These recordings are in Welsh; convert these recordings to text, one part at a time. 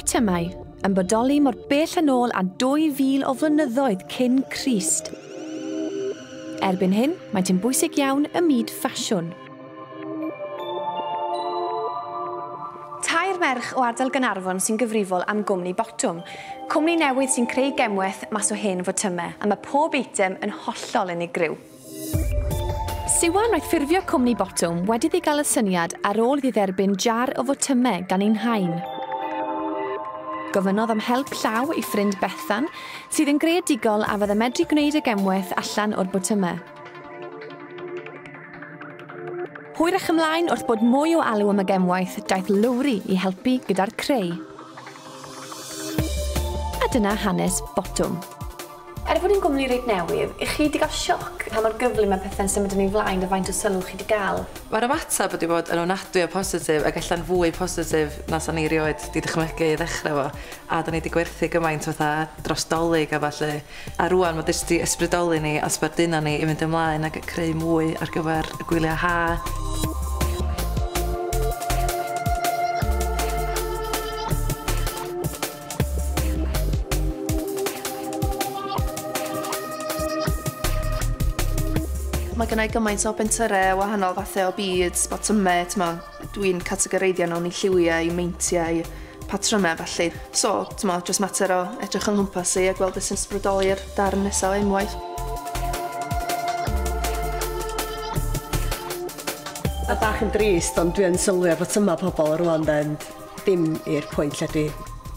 Botymau, yn bodoli mor bell yn ôl â 2000 o flynyddoedd cyn Crist. Erbyn hyn, maent yn bwysig iawn ym myd ffasiwn. Tair merch o ardal Gaernarfon sy'n gyfrifol am gwmni Botwm, cwmni newydd sy'n creu gemwaith mas o hen fotymau, a mae pob eitem yn hollol unigryw. Siwan oedd ffurfio cwmni Botwm wedi iddi gael y syniad ar ôl iddi dderbyn jar o fotymau gan ei nhain. Gofynnodd am help llaw ei ffrind Bethan, sydd yn greadigol a fydde medru gwneud y gemwaith allan o'r botymau. Hwyrach ymlaen wrth bod mwy o alw am y gemwaith, daeth Lowri i helpu gyda'r creu. A dyna hanes Botwm. Er bod hi'n gwmni reit newydd, y'ch chi 'di gael sioc pa mor gyflym mae pethe'n symud yn ei flaen a faint o sylw chi 'di gael? Mae'r ymateb wedi bod yn ofnadwy o positif ac ella'n fwy positif na 'sa ni 'rioed 'di dychmygu i ddechrau efo, a 'da ni 'di gwerthu gymaint fatha dros 'Dolig a ballu, a rŵan ma' jyst 'di ysbrydoli ni a sbarduno ni i fynd ymlaen ac creu mwy ar gyfer y gwyliau ha'. Mae gen i gymaint o bentyrau wahanol fathau o beads, botymau, t'mo', dwi'n categoreiddio nhw'n i lliwiau, meintiau, patrymau felly. So, t'mo', jyst mater o edrych yng nghwmpas i a gweld beth sy'n sbrydoli'r darn nesa o enwaith. Mae bach yn drist ond dwi yn sylwi ar botymau pobl rŵan 'de, Dim i'r pwynt lle dwi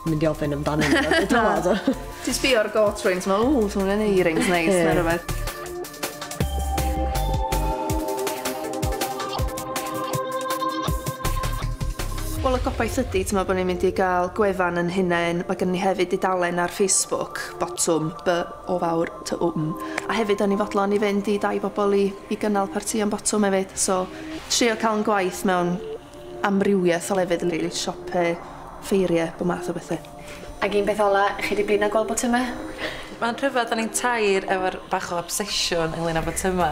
mynd i ofyn amdano nhw. Dwi'n dwad. Ti'n sbio ar goat rings, ma, ww, ti'n mynd i rings neis, neu rhywbeth. Wel, y gobaith ydy, ti'n meddwl bod ni'n mynd i gael gwefan yn hunain. Mae gen ni hefyd dudalen ar Facebook, Botwm, B o fawr ty wm. A hefyd, o'n i'n fodlon i fynd i dai bobl i, i gynnal partïon botwm hefyd. So, trio cael yn gwaith mewn amrywiaeth o lefydd yn rili, siopau, ffeiriau, bob math o bethau. Ag un peth ola, chi di blino gweld botyma? Mae'n rhyfedd, o'n i'n tair efo'r bach o obsesiwn ynglyn â botyma.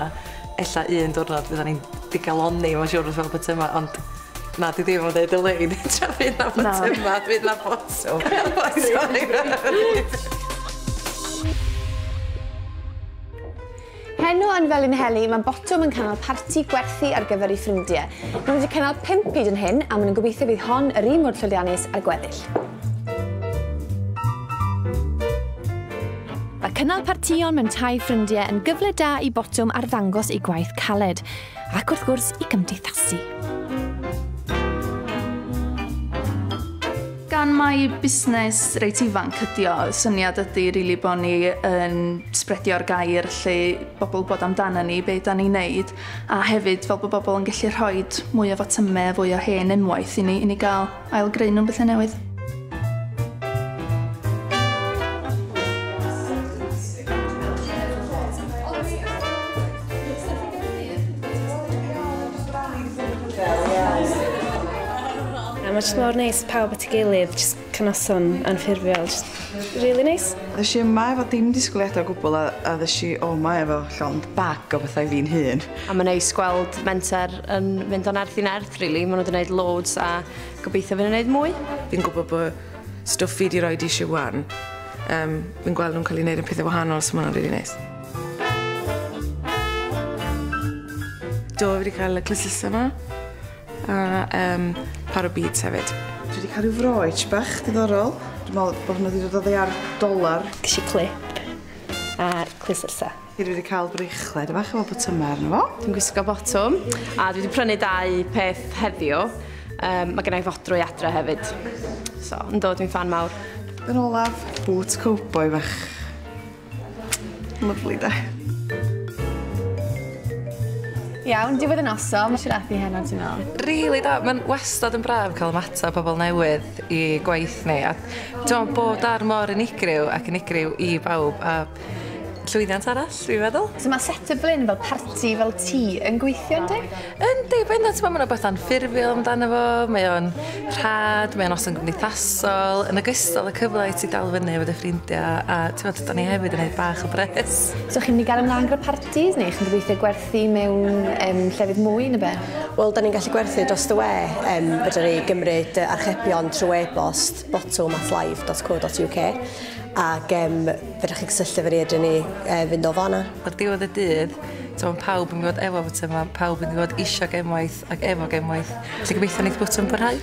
Ella un diwrnod fyddan ni'n digalonni, mae'n siwr wrth fel botyma, ond na, di ddim yn dweud y lein, tra fydd na botyma, fydd na botwm. Heno yn Felinheli mae Botwm yn cynnal parti gwerthu ar gyfer ei ffrindiau. Maen nhw wedi cynnal pump hyd yn hyn a maen nhw'n gobeithio fydd hon yr un mor llwyddiannus â'r gweddill. Mae cynnal partïon mewn tai ffrindiau yn gyfle da i Botwm arddangos eu gwaith caled. Ac wrth gwrs, i gymdeithasu. Gan mai busnes reit ifanc ydi o, syniad ydi rili bod ni yn sbredio'r gair lle bobl bod amdana ni, be da ni'n neud, a hefyd fel bod bobl yn gallu rhoi mwy o fatyme, fwy o hen unwaith i ni, i ni gael Ail-greu nhw'n bethau newydd. Mae jyst mor neis pawb at ei gilydd, jyst cynoson anffurfiol, jyst really neis. Ddys i yma efo dim disgwyliadau o gwbl a, a ddys i o yma efo llond bag o bethau fi'n hun. A mae'n neis gweld menter yn mynd o'n nerth i nerth. Rili, maen nhw 'di neud loads a gobeithio fy nhw'n neud mwy. Fi'n gwybod bod stwff fi 'di roi di Siwan, um, fi'n gweld nhw'n cael ei wneud yn pethau wahanol, so mae'n rili really neis. Do, fi wedi cael y clysyllta yma. A um, par o beads hefyd. Dwi wedi cael rhyw froech bach diddorol. Dwi'n meddwl bod hwnna wedi dod o ddear dolar. Ges i clip a clysyllta. Dwi wedi cael brechled bach efo botymau arno fo. Dwi'n gwisgo botwm a dwi wedi prynu dau peth heddiw. Um, mae gennau fodrwy adre hefyd. So, yn dod dwi'n fan mawr. Yn olaf, bŵt cowboi fach. Lyflu da. Iawn, diwedd y noson, mae siarad i heno, ti'n meddwl? Really da, mae'n wastad yn braf cael ymateb pobl newydd i gwaith ni. A dwi'n bod ar mor unigryw ac unigryw i bawb. A llwyddiant arall, dwi'n meddwl. So mae Set y Blyn fel parti fel ti yn gweithio yn di? Yn di, mae'n dweud, mae'n rhywbeth anffurfiol amdano fo, mae o'n rhad, mae o'n os yn gymdeithasol, yn ogystal y cyfle i ti dal fyny efo dy ffrindiau, a ti'n meddwl, da ni hefyd yn ei bach o bres. So chi'n mynd i gael ymlaen gyda parties, neu chi'n gobeithio gwerthu mewn um, llefydd mwy neu be? Wel, da ni'n gallu gwerthu dros dy we, um, fydden ni gymryd archebion trwy e-bost botwm at live.co.uk ac um, Fedrwch chi gysylltu efo ni ydyn ni e, fynd o fanna. Ar diwedd y dydd, so mae pawb yn gwybod efo fod yma, pawb yn gwybod eisiau gemwaith ac efo gemwaith. Felly gobeithio wneud bwt yn bwrhau.